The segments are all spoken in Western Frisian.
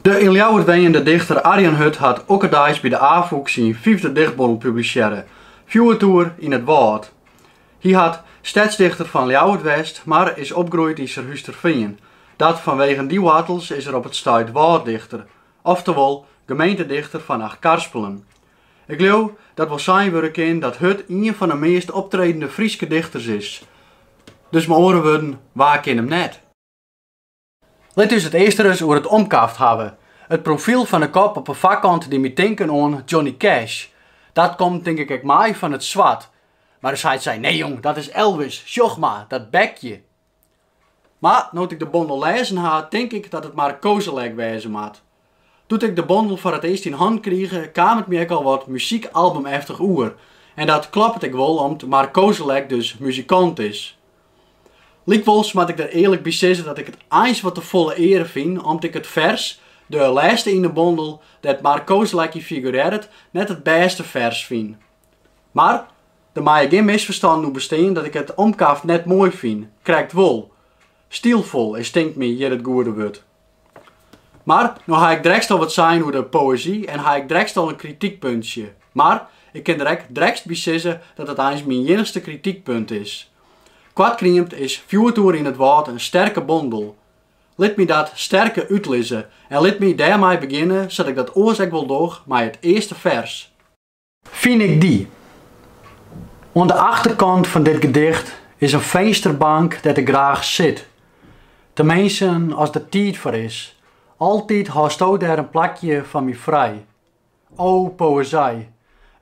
De yn Ljouwert wenjende dichter Arjan Hut hat okkerdeis by de Afûk syn fyfde dichtbondel publisearre, Fjoertoer yn it Wâld. Hy hat stedsdichter fan Ljouwert west, mar is opgroeid yn Surhústerfean. Dat fanwegen dy woartels is er op it stuit wâlddichter, oftewol gemeentedichter fan Achtkarspelen. Ik leau dat wol sein wurde kin dat Hut ien fan 'e meast optredende Fryske dichters is. Dus mei oare wurden, wa kin him net? Lit ús it earst ris oer it omkaft hawwe. It profyl fan 'e kop op 'e foarkant die my tinken oan Johnny Cash. Dat komt tink ik ek mei fan it swart. Mar ús heit sei, nee jong, dat is Elvis, sjoch mar, dat bekje! Mar no't ik de bondel lêzen ha, tink ik dat it Mark Kozelek wêze moat. Doe't ik de bondel foar it earst yn hannen krige, kaam it my ek al wat muzykalbum-eftich oer. En dat kloppet ek wol om't Mark Kozelek dus muzikant is. Lykwols moat ik der earlik by sizze dat ik it eins wat te folle eare fyn om't ik it fers, de lêste yn de bondel, dêr't Mark Kozelek yn figurearret, net it bêste fers fyn. Mar, der meie gjin misferstannen oer bestean dat ik it omkaft net moai fyn, krekt wol. Stylfol is tinkt my hjir it goede wurd. Mar, no ha ik drekst al wat sein oer de poëzy en ha ik drekst al in kritykpuntsje. Mar, ik kin der ek drekst by sizze dat it eins myn iennichste kritykpunt is. Koart kriemd is Fjoertoer yn it Wâld in sterke bondel. Lit my dat sterke útlizze en lit my dêrmei begjinne sa't ik dat oars ek wol doch mei it earste fers. Fyn ik dy. Oan de achterkant fan dit gedicht is in finsterbank dêr't ik graach sit. Teminsten as der tiid foar is. Altyd hâldsto dêr in plakje foar my frij. O, poëzij!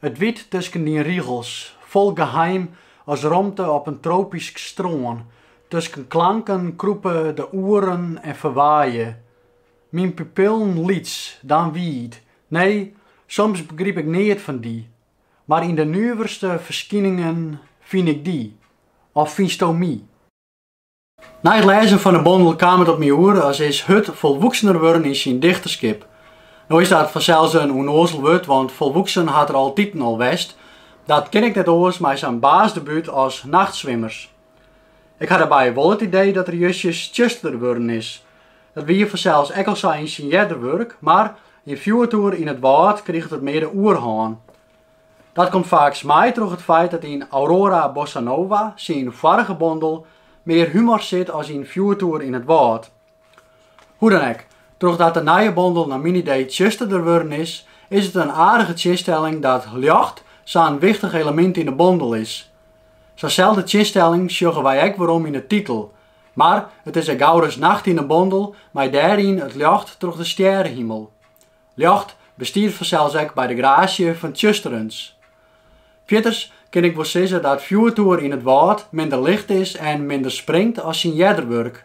It wyt tusken dyn rigels, fol geheim as romte op in tropysk strân, tusken klanken krûpe de oeren en ferwaaie. Myn pupillen lyts, dan wiid, nee, soms begryp ik neat fan dy, mar yn de nuverste ferskyningen fyn ik dy, of fynsto my? Nei it lêzen fan 'e bondel kaam it op my oer as is Hut folwoeksener wurden yn syn dichterskip. No is dat fansels in ûnoazel wurd, want folwoeksen hat er altiten al west. Dat kin ek net oars mei sa'n baasdebút as Nachtswimmers. Ik ha dêrby wol it idee dat er justjes tsjuster wurden is. Dat wie fansels ek al sa yn syn earder wurk, mar yn Fjoertoer yn it Wâld kriget it mear de oerhân. Dat komt faaks mei troch it feit dat yn Aurora Bossa Nova, syn foarige bondel, mear humor sit as yn Fjoertoer yn it Wâld. Hoe dan ek, trochdat de nije bondel nei myn idee tsjusterder wurden is, is it in aardige tsjinstelling dat ljocht sa in wichtich elemint yn de bondel is. Sa'nselde tsjinstelling sjogge wy ek werom yn de titel, mar it is ek gauris nacht yn de bondel mei dêryn it ljocht troch de stjerehimel. Ljocht bestiet fansels ek by de graasje fan tsjusterens. Fierters kin ik wol sizze dat fjoertoer yn it wâld minder licht is en minder springt as syn earder wurk.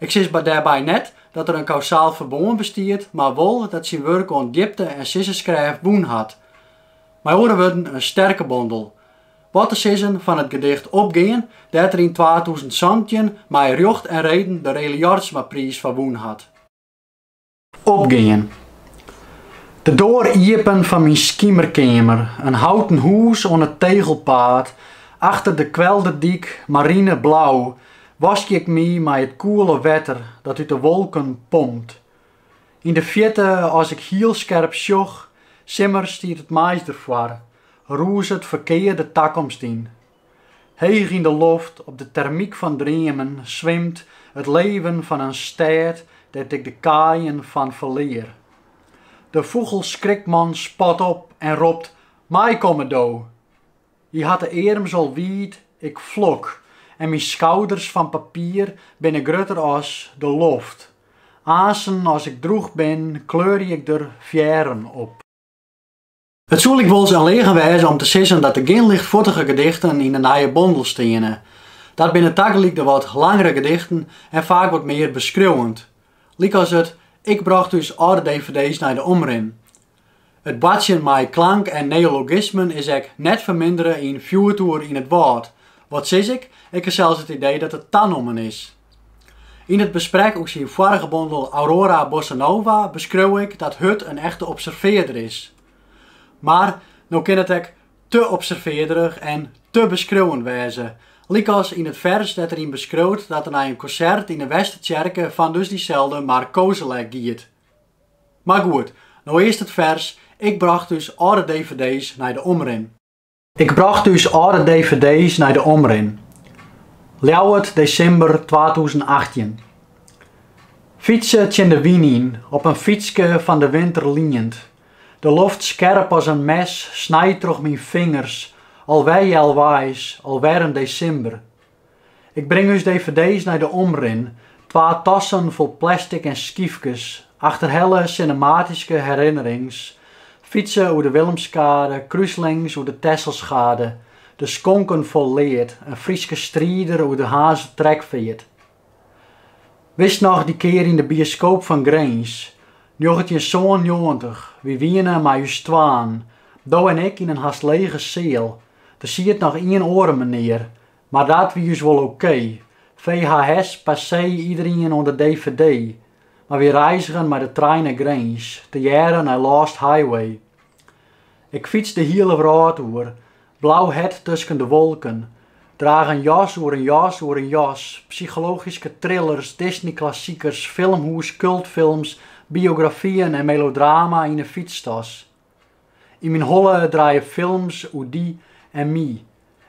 Ik sis dêrby net dat der in kausaal ferbân bestiet, mar wol dat syn wurk oan djipte en sizzenskrêft wûn hat. Mei oare wurden, in sterke bondel. Wat te sizzen fan it gedicht Opgean, dêr't er yn twatûzen santjin mei rjocht en reden de Rely Jorritsmapriis foar wûn hat. Opgean. De doar iepen fan myn skimerkeamer, in houten hûs oan it tegelpaad, achter de kwelderdyk, marineblau, waskje ik my mei it koele wetter dat út de wolken pompt. Yn de fjirte, as ik hiel skerp sjoch, simmers stiet it mais derfoar, rûzet ferkear de takomst yn. Heech yn de loft, op de termyk fan dreamen, swimt it leven fan in stêd dêr't ik de kaaien fan ferlear. De fûgelskrikman spat op en ropt, Meikomme do! Hy hat de earms al wiid, ik flok, en myn skouders fan papier binne grutter as de loft. Aansten as ik drûch bin, kleurje ik der fearren op. It soe lykwols in leagen wêze om te sizzen dat der gjin lichtfuortige gedichten yn de nije bondel steane. Dat binne tagelyk de wat langere gedichten en faak wat mear beskriuwend, lykas it Ik brocht ús âlde dvd's nei de Omrin. It boartsjen mei klank en neologismen is ek net fermindere yn Fjoertoer yn it Wâld, wat sis ik, ik ha sels it idee dat it tanommen is. Yn it besprek oer syn foarige bondel Aurora Bossa Nova beskreau ik dat Hut in echte observearder is. Mar no kin it ek te observearderich en te beskriuwend wêze. Lykas yn it fers dêr't er yn beskriuwt dat er nei in konsert yn de Westertsjerke fan dus dyselde Mark Kozelek giet. Mar goed, no earst it fers, ik brocht ús âlde dvd's nei de Omrin. Ik brocht ús âlde dvd's nei de Omrin. Ljouwert, desimber twatûzen achttjin. Fytse tsjin de wyn yn, op in fytske fan de winter liend. De loft skerp as in mes, snijt troch myn fingers, al wer healweis, al wer in desimber. Ik bring ús dvd's nei de Omrin, twa tassen fol plastic en skyfkes, achterhelle sinematyske herinnerings, fytse oer de Willemskade, krúslings oer de Tesselschade, de skonken fol lead, in Fryske strider oer de Harnzer trekfeart. Witst noch dy kear yn de bioskoop fan Grins, njoggentjinsânennjoggentich, wy wiene mei ús twaen, do en ik yn in hast lege seal, Der siet noch ien oare menear, mar dat wie ús wol ok. VHS passé iederien oan de dvd, mar wy reizgen mei de trein nei Grins, tegearre nei Lost Highway. Ik fyts de hiele wrâld oer, blau hert tusken de wolken, draach in jas oer in jas oer in jas, psychologyske thrillers, Disney-klassikers, filmhûs, kultfilms, biografyen en melodrama yn in fytstas. Yn myn holle draaie films oer dy en my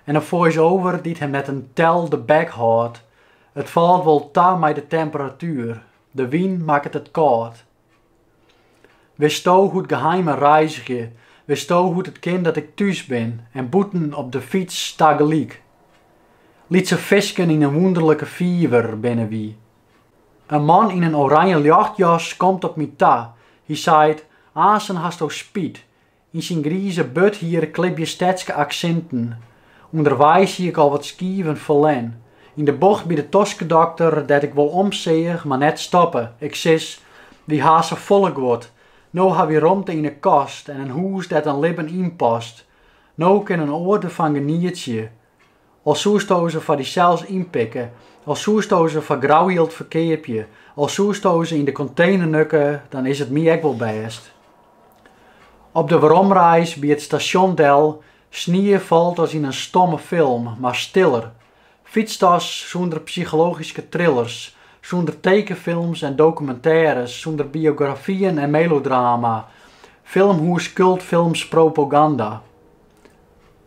en in voice-over dy't him net in tel de bek hâldt. It falt wol ta mei de temperatuer, de wyn makket it kâld. Witsto hoe't geheimen reizgje, witsto hoe't it kin dat ik thús bin en bûten op de fyts tagelyk? Lytse fisken yn in wûnderlike fiver binne wy. In man yn in oranje ljochtjas komt op my ta. Hy seit, Aansen hasto spyt. Yn syn grize burthier klibje stedske aksinten. Underweis hie ik al wat skiven ferlern. Yn de bocht by de toskedokter, dêr't ik wol omseach, mar net stoppe. Ik sis, Wy ha safolle guod. No ha wy romte yn 'e kast en in hûs dêr't in libben yn past. No kin in oar derfan genietsje. Al soesto se foar dysels ynpikke, al soesto se foar grou jild ferkeapje, al soesto se yn de kontener nukke, dan is it my ek wol bêst. Op de weromreis by it stasjon del. Snie falt as yn in stomme film, mar stiller. Fytstas sûnder psychologyske thrillers, sûnder tekenfilms en dokumintêres, sûnder biografyen en melodrama, filmhûs, kultfilms, propaganda.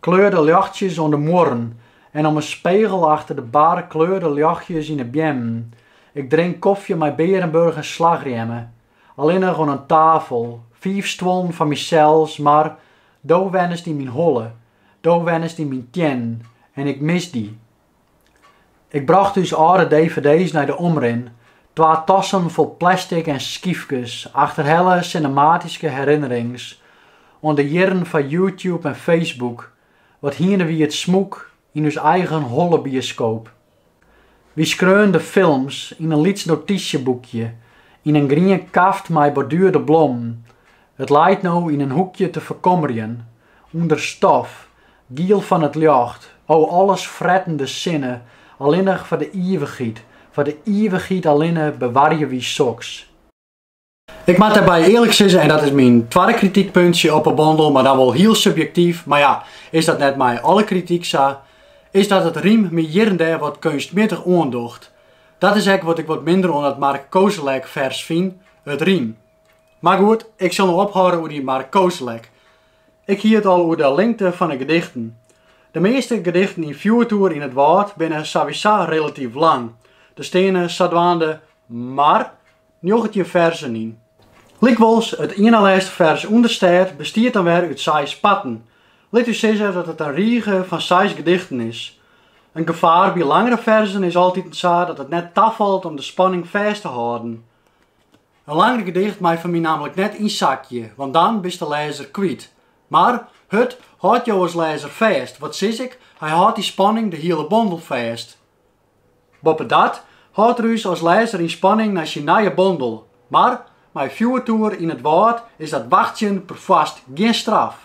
Kleurde ljochtsjes oan de muorren en om 'e spegel achter de bar, kleurde ljochtsjes yn 'e beammen. Ik drink kofje mei Beerenburg en slachrjemme. Allinnich oan in tafel, fiif stuollen foar mysels, mar do wennest yn myn holle, do wennest yn myn teannen en ik mis dy. Ik brocht ús âlde dvd's nei de Omrin. Twa tassen fol plastic en skyfkes achterhelle sinematyske herinnerings oan de jierren foar YouTube en Facebook, wat hiene wie it smûk yn ús eigen holle bioskoop. Wy skreaun de films yn in lyts notysjeboekje yn in grien kaft mei borduerde blommen. It leit no yn in hoekje te ferkommerjen ûnder stof Giel fan it ljocht, o alles frettende sinne, allinnich foar de ivichheid, foar de ivichheid allinne bewarje wy soks. Ik moat dêrby earlik sizze, en dat is myn twadde kritykpuntsje op 'e bondel, mar dan wol hiel subjektyf, mar ja, is dat net mei alle krityk sa, is dat it rym my hjirendêr wat keunstmiddich oandocht. Dat is ek wat ik wat minder oan dat Mark Koselleck fers fyn, it rym. Mar goed, ik sil no ophâlde oer dy Mark Koselleck. Ik hie it al oer de lingte fan 'e gedichten. De measte gedichten yn Fjoertoer yn it wâld binne sawisa relatyf lang, der steane sadwaande mar njoggentjin ferzen yn. Lykwols, it ienalêste fers Understêd bestiet dan wer út seis parten. Lit ús sizze dat it in rige fan seis gedichten is. In gefaar by langere ferzen is altyd en sa dat it net tafalt om de spanning fêst te hâlden. In langer gedicht mei foar my nammentlik net yn sakje, want dan bist de lêzer kwyt. Mar Hut hâldt jo as lêzer fêst, wat sis ik, hy hâldt dy spanning de hiele bondel fêst. Boppedat hâldt er ús as lêzer yn spanning nei syn nije bondel, mar mei Fjoertoer yn it wâld is dat wachtsjen perfoarst gjin straf.